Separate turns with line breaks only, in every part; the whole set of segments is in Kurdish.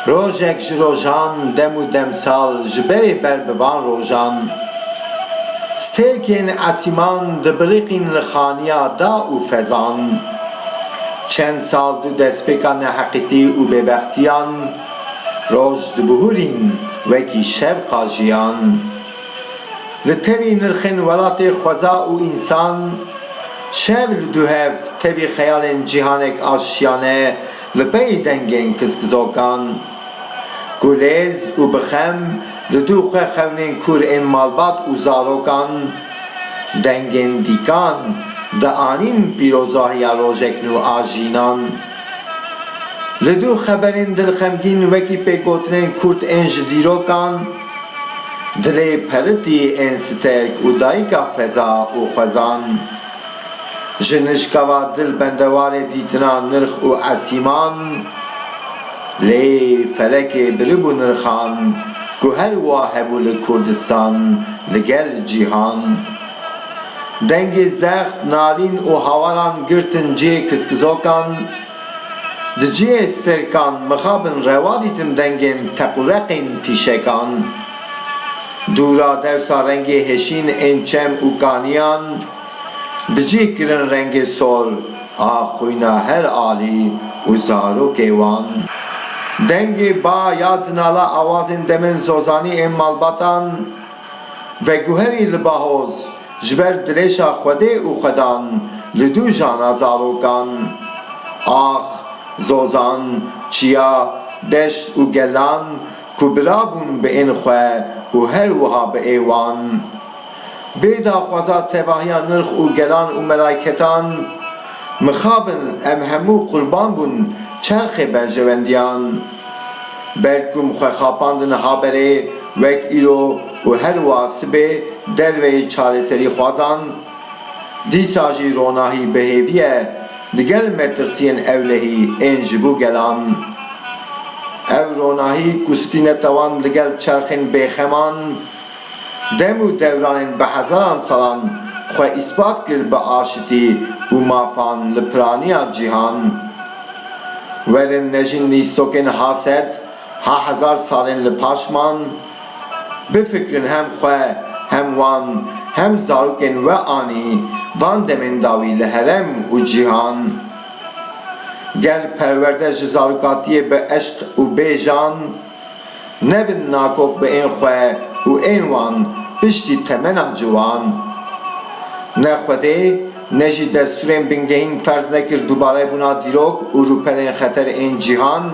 Rojek ji rojan dem û demsal ji berê ber bi van rojan stêrkên esîman dibiriqîn li xaniya da û fezan. Çend sal dû destpêka neheqîtî û bêbextiyan Roj dibihurîn wekî şev qajiyan. Li tevî nirxên welatê xweza û însan, şev li duhev tevî xeyalên cîhanek aşiyane li pey dengên kizkizokan. Gulêz û bixem li du xwe xewnên kûr ên malbat û zarokan, dengên dîkan dianîn pîrozahiya rojek nû a jînan. Li du xeberên dilxemgîn wekî pêkgotinên kurt ên ji dîrokan dilê peritî ên Sterk û dayika Feza û Xwezan ji nijkava dil bendewarê dîtina nirx û esîman lê felekê biribû nirxan ku her wa hebû li Kurdistan li gel cîhan. Dengê zext, nalîn û hawalan girtin cihê kiskizokan. Di cihê sirkan mixabin rewa dîtin dengên teqûreqên fîşekan. Dûra dewsa rengê hêşîn ên çem û kaniyan bi cih kirin rengê sor a xwîna her alî û zarokê wan. Dengê ba ya dinala awazên demên zozanî ên malbatan. Veguherî li Bahoz ji ber dirêşa Xwedê û Xwedan li dû jana zarokan, ax, zozan, çiya, deşt û gelan ku birabûn bi ên xwe û her wiha bi ê wan. Bê daxwaza tevahiya nirx û gelan û melaiketan, mixabin em hemû qurban bûn çerxê berjewendiyan. Ber ku xwexapandin haberê wek îro û her wa sibê derveyî çareserîxwazan, dîsa jî ronahî bi hêvî ye digel metirsiyên ewlehî ên ji bo gelan. Ev ronahî ku stîne tawan digel çerxên bêxeman, Dem û dewrayên bi hezaran salan xwe îspat kir bi aşitî û mafan li piraniya cîhan. Werin nejîn lîstokên ha sed, ha hezar salên li paşman, bifikirin hem xwe, hem wan, hem zarokên we anî van demên dawî li herem û cîhan. Gel perwerde ji zarokatiyê bi eşq û bê jan. Nebin nakok bi ên xwe û ên wan piştî temena ciwan. Ne Xwedê ne jî destûrên bingehîn ferz nekir dubare bûna dîrok û rûpelên xeter ên cîhan.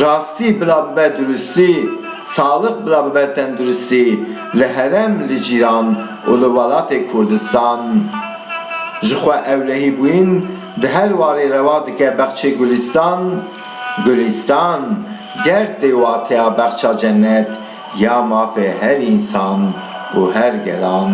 Rastî bila bibe durustî, salix bila bibe tenduristî li herem, li cîran û li welatê Kurdistan. Ji xwe ewlehîbûyîn di her warê rewa dike bexçê gulîstan. Gulîstan ger tê wateya bexça cenet ya mafê her însan û her gelan.